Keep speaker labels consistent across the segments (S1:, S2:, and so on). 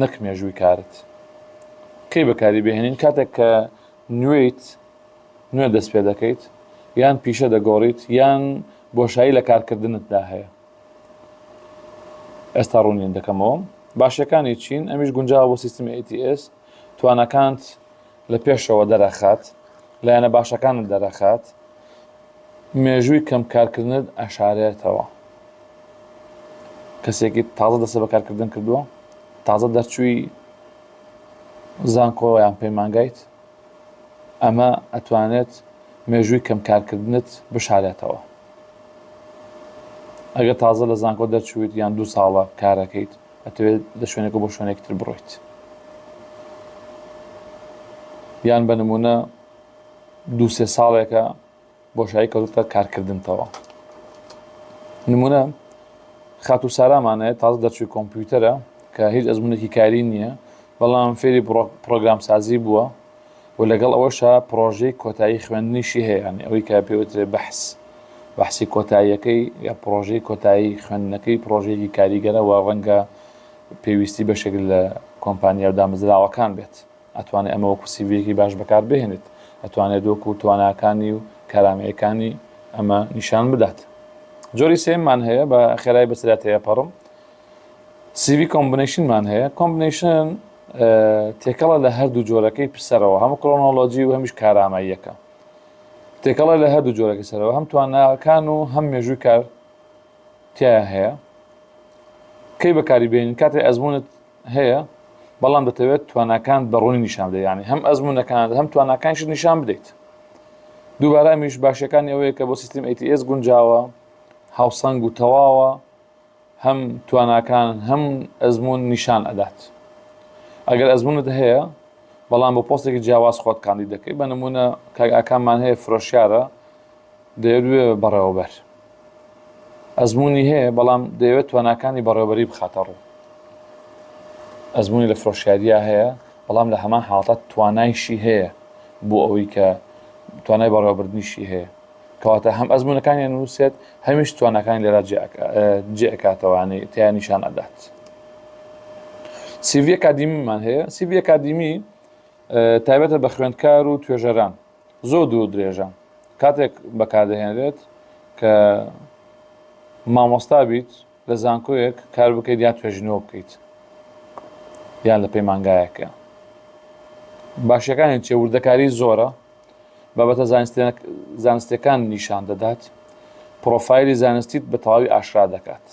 S1: نەک مێژووی کارت. کەی بەکاری بهێنین کاتێک کە نوێیت نوێ دەست پێ دەکەیت یان پیشە دەگۆڕیت یان بۆشایی لە کارکردنتدا هەیە ئێستا ڕوونین دەکەمەوە باشەکانی چین ئەمیش گونجاوە بۆ سیستمی ATS توانەکانت لە پێشەوە دەرەخات لایەنە باشەکانت دەرەخات مێژووی کەم کارکردنت ئەشارێتەوە کەسێکی تازە دەسە بە کارکردن کردووە تازە دەرچووی زانکۆیان پەیمانگایت ئەمە ئەتوانێت مێژووی کەم کارکردنت بشارێتەوە ئەگە تازە لە زانکۆ دەرچویت یان دوو ساڵە کارەکەیت ئەتەوێت لە شوێنەکە بۆ شوێنێکتر بڕۆیت یان بە نمونە دو سێ ساڵێکە بۆشایی کەوتە کارکردنتەوە نمونە خاتو سارامانەیە تاز دەرچوی کۆمپیوتەرە کە هیچ ئەزمونێکی کاری نییە بەڵام فێری پرۆگرام سازی بووە و لەگەڵ ئەوەشا پڕۆژەی کۆتایی خوێندنیشی هەیە یانی ئەوەی کە پێوترێ بەحس بەحسی کۆتاییەکەی یا پڕۆژەی کۆتایی خوێندنەکەی پڕۆژێکی کاریگەرەوە ڕەنگە پێویستی بەشێک لە کۆمپانیا و دامەزراوەکان بێت ئەتوانێت ئەمە وەکو سیڤیەکی باش بەکار بهێنێت ئەتوانێت وەکو تواناکانی و کارامەیەکانی ئەمە نیشان بدات جۆری سێمان هەیە بە خێرای بەسرات هەیە پەڕم سیڤی کۆمبنیشنمان هەیە کۆمبنیشن تێکەڵە لە هەردوو جۆرەکەی پرسەرەوە هەم کۆنۆلۆجی و هەمیش کاراماییەکە تێکەڵە لە هەردوو جۆرەکە سەرەوە هەم توانەکان و هەم مێژووی کار تیا هەیە کەی بەکاری بین کاتی ئەزمونت هەیە بەڵام دەتەوێت توانەکان بەڕوونی نیشان بدە ینی هەم ئەزمونونەکان هەم توانەکانش نیشان بدەیت دووبارە میش باشەکانی ئەوەیە کە بۆ سیستم ATS گونجاوە هاوسەنگ و تەواوە هەم تواناکان هەم ئەزموون نیشان ئەدات ئەگەر ئەزمونت هەیە بەڵام بۆ پۆستێکی جیاواز خۆت کاندید دەکەی بە نمونە کاک ئاکاممان هەیە فرۆشیارە دەیەوێ بەڕێوەبەر ئەزمموی هەیە بەڵام دەیەوێت تواناکانی بەڕێوبەری بخاتە ڕوو ئەزمموی لە فرۆشیاریا هەیە بەڵام لە هەمان حاڵات توانایشی هەیە بۆ ئەوەی کە توانای بەڕێوەبردنیشی هەیە کەواتە هەم ئەزمونەکانی ئەنووسێت هەمیش توانەکانی لێرا جێکاتەوانەی تیا نیشان ئەدات سیڤ کادیمیمان هەیە سیڤ کادیمی تایبەتە بە خوێندکار و توێژەران زۆر دوو درێژە کاتێک بەکاردەهێنرێت کە مامۆستا بیت لە زانکۆیەک کار بکەیت یا توێژینەوە بکەیت یان لە پەیمانگایەکە باشەکانی چێ وردەکاری زۆرە بابەتە زانستیەکان نیشان دەدات، پڕۆفایلی زانستیت بە تەواوی ئاشکرا دەکات.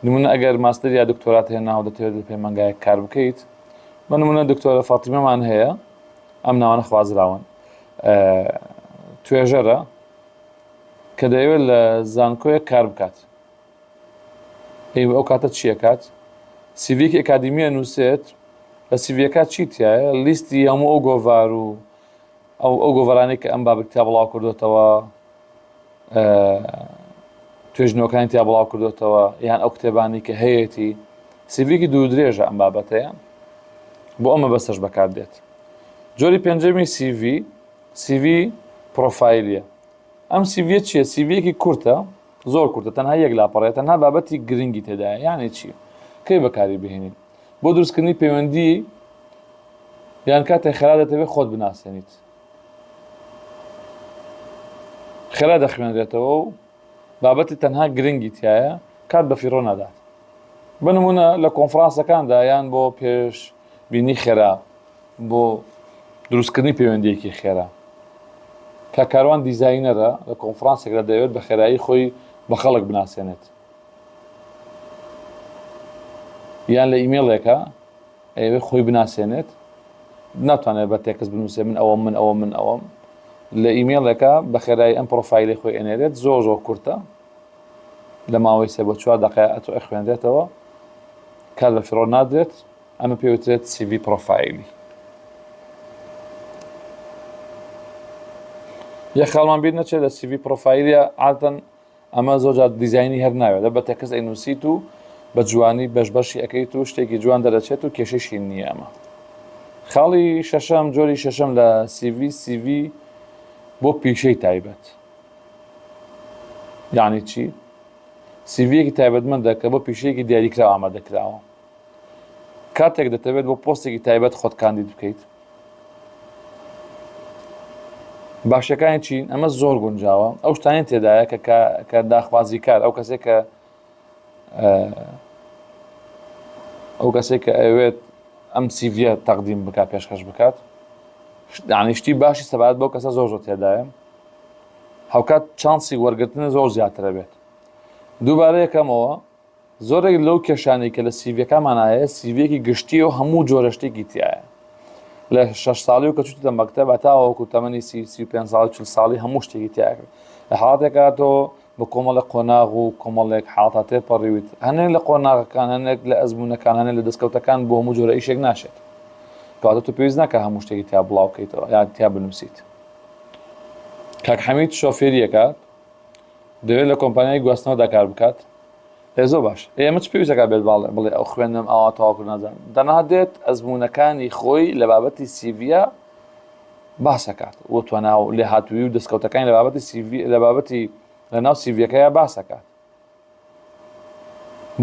S1: نمونە ئەگەر ماستەر یا دکتۆرات هەیە ناو دەتەوێت لە پەیمانگایەک کار بکەیت، بە نمونە دکتۆرە فاتیمەمان هەیە، ئەم ناوانە خوازراون، توێژەرە کە دەیەوێت لە زانکۆیەک کار بکات، ئێوە ئەو کاتە چی ئەکات؟ سیڤیەکی ئەکادیمی ئەنووسێت، لە سیڤیەکە چی تیایە؟ لیستی هەموو ئەو گۆڤار و ئەو ئەو گۆڤارانەی کە ئەم بابەتی تیا بڵاو کردوێتەوە توێژنەوەکانی تیا بڵاو کردوێتەوە یان ئەو کتێبانی کە هەیەتی سیڤیکی دوو درێژە ئەم بابەتەیە بۆ ئەمە بەسەش بەکار دێت جۆری پێنجەمی سیV سیV پرۆفایلیە ئەم سیڤە چیە سیڤەکی کورتە زۆر کورتە تەنها یەک لاپەڕەیە تەنها بابەتی گرنگی تێدایە یانێ چی کەی بەکاری بهێنین بۆ دروستکردنی پەیوەندی یان کاتێک خێرا دەتەوێت خۆت بناسێنیت خێرا دەخوێنرێتەوە و بابەتی تەنها گرنگی تایە کات بە فیڕۆ نادات بنمونە لە کۆنفرانسەکاندا یان بۆ پێش بینی خێرا بۆ دروستکردنی پەیوەندییەکی خێرا. کاک کاروان دیزاینەرە، لە کۆنفرانسێکدا دەیەوێت بە خێرایی خۆی بە خەڵک بناسێنێت. یان لە ئیمێڵێکە ئەیەوێت خۆی بناسێنێت، ناتوانێت بە تێکست بنووسێ من ئەوەم من ئەوە من ئەوەم. لە ئیمێڵێکە بە خێرایی ئەم پرۆفایلی خۆی ئەنێرێت زۆر زۆر کورتە لە ماوەی سێ بۆ چوار دەقەیە ئەتۆ ئەخوێنرێتەوە کار بە فیڕۆ نادرێت ئەمە پێوترێت سیڤی پڕۆفایلی. یە خاڵمان بیر نەچێت لە سیڤی پڕۆفایلە ئاتەن ئەمە زۆرجار دیزایانی هەر ناوێت لە بە تەکەس ئەینوسیت و بە جوانی بەش بەشی ئەەکەیت و شتێکی جوان دەرەچێت و کێشەشی نییە ئەمە خاڵی شەشەم جۆری شەشەم لە سیڤی سیڤی بۆ پیشەی تایبەت یعنی چی سیڤەکی تایبەتمەندە کە بۆ پیشەیەکی دیاریکراوە ئامادەکراوە کاتێک دەتەوێت بۆ پۆستێکی تایبەت خۆت کاندید بکەیت باشەکانی چین ئەمە زۆر گونجاوە ئەو شتانی تێدایە کە کە داخوازی کار ئەو کەسێک کە ئەو کەسێک کە ئەوێت ئەم سیڤە تەقدیم بک پێشکەش بکات دانیشتی باشی سەبات بۆ کەسە زۆر زۆر تێدایە هاوکات چانسی وەرگرتنە زۆر زیاترە بێت دووبارە یەکەمەوە زۆرێک لەو کێشانەی کە لە سیڤیەکانمان هەیە سیڤیەکی گشتیە و هەموو جۆرە شتێکی تایە لە شش ساڵی و کە چوتە مەکتەب تاوەکو تەمەنی سی سی پێ ساڵ چل ساڵی هەموو شتێکی تیاکرد لە حاڵاتێکا تۆ بە کۆمەڵە قۆناغ و کۆمەڵێک حاڵتا تێپەڕیویت هەنێک لە قۆناغەکان هەنێک لە ئەزمونونەکانانە لە دەستکەوتەکان بۆ هەموو جۆرە ئیشێک ناشێت کاتە تو پێویست ناکە هەموو شتێکی تیا بڵاوکەیتەوە یان تیا بنووسیت کاک حەمید شۆفێریەکە دەوێت لە کۆمپانیای گواستنەوەدا کار بکات ئێ زۆر باش ئێ ئەمە چ پێویستەکە بێت باڵێ بڵێ ئەو خوێندنم ئاوا تەواو کرد نازانم دەنا دێت ئەزموونەکانی خۆی لە بابەتی سیڤە باسەکات و تواناو و لێهاتووی و دەستکەوتەکانی لە بابەتی سیڤی لە بابەتی لە ناو سیڤەکەیە باسەکات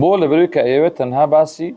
S1: بۆ لە بەروی کە ئەیەوێت تەنها باسی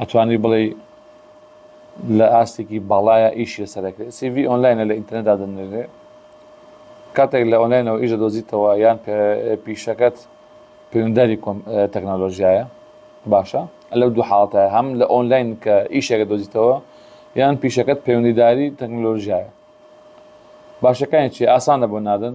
S1: ئەتوانی بڵێی لە ئاستێکی باڵایە ئیشی لەسەر دەکرێت سی ڤی ئۆنلاینە لە ئینتەرنێت دادەنرێ کاتێک لە ئۆنلاینەوە ئیش دەدۆزیتەوە یان پیشەکەت پەیوەنداری تەکنەلۆژیایە باشە لەو دوو حاڵتە هەم لە ئۆنلاین کە ئیشێکە دۆزیتەوە یان پیشەکەت پەیوەندیداری تەکنەلۆژیایە باشەکانی چی ئاسانە بۆ نادن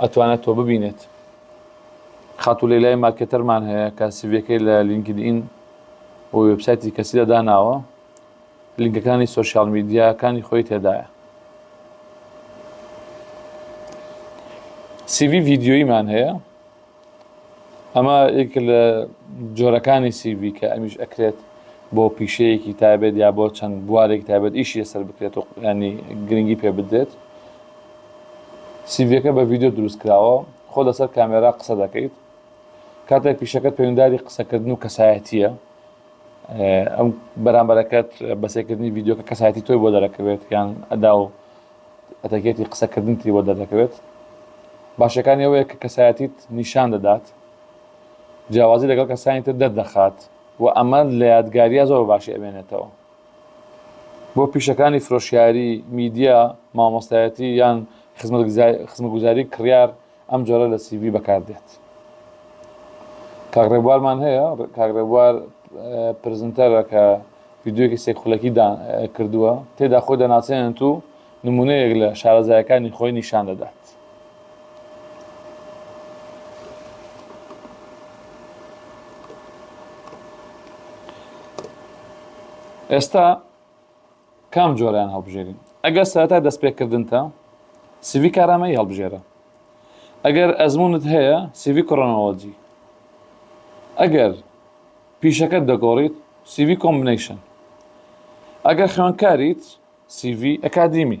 S1: ئەتوانێت تۆ ببینێت. خاتوو لەیلای مارکێتەرمان هەیە کە سیڤیەکەی لە لینکدئین و وێبسایتی کەسیدا داناوە، لینکەکانی سۆشیاڵ میدیاکانی خۆی تێدایە. سیڤی ڤیدیۆییمان هەیە. ئەمە یەکێکە لە جۆرەکانی سی ڤی کە ئەمیش ئەکرێت بۆ پیشەیەکی تایبەت یا بۆ چەند بوارێکی تایبەت ئیشی لەسەر بکرێت و ینی گرنگی پێ بدرێت سیڤەکە بە ڤیددیو دروست کراوە خۆ لەسەر کامێرا قسە دەکەیت کاتێک پیشەکەت پەیوەنداری قسەکردن و کەسایەتیە ئەم بەرامبەرەکەت بەسێکردنی ڤیددیوکە کەسایەتی تۆی بۆ دەرەکەوێت یان ئەدا و ئەتەکێتی قسەکردنتی بۆ دەردەکەوێت، باشیەکانی ئەوەیە کە کەسایەتیت نیشان دەدات، جیاوازی لەگەڵ کەسانی تر دەردەخات و ئەمە لە یادگارییە زۆر باشی ئەمێنێتەوە. بۆ پیشەکانی فرۆشیاری، میدیا، مامۆستایەتی یان خزمەتگوزاری کڕیار، ئەم جۆرە لە سی ڤی بەکار دێت. کاک ڕێبوارمان هەیە کاک ڕێبوار پرزنتەرە کە ڤیدیۆیەکی سێک خولەکی کردووە تێدا خۆی دەناسێنێت و نمونەیەک لە شارەزایەکانی خۆی نیشان دەدات. ئێستا کام جۆرەیان هەڵبژێرین؟ ئەگەر سەرەتای دەستپێکردنتە، سیڤی کارامەیی هەڵبژێرە. ئەگەر ئەزموونت هەیە، سیڤی کرۆنۆلۆجی. ئەگەر پیشەکەت دەگۆڕیت، سیڤی کۆمبنەیشن. ئەگەر خوێندکاریت، سیڤی ئەکادیمی.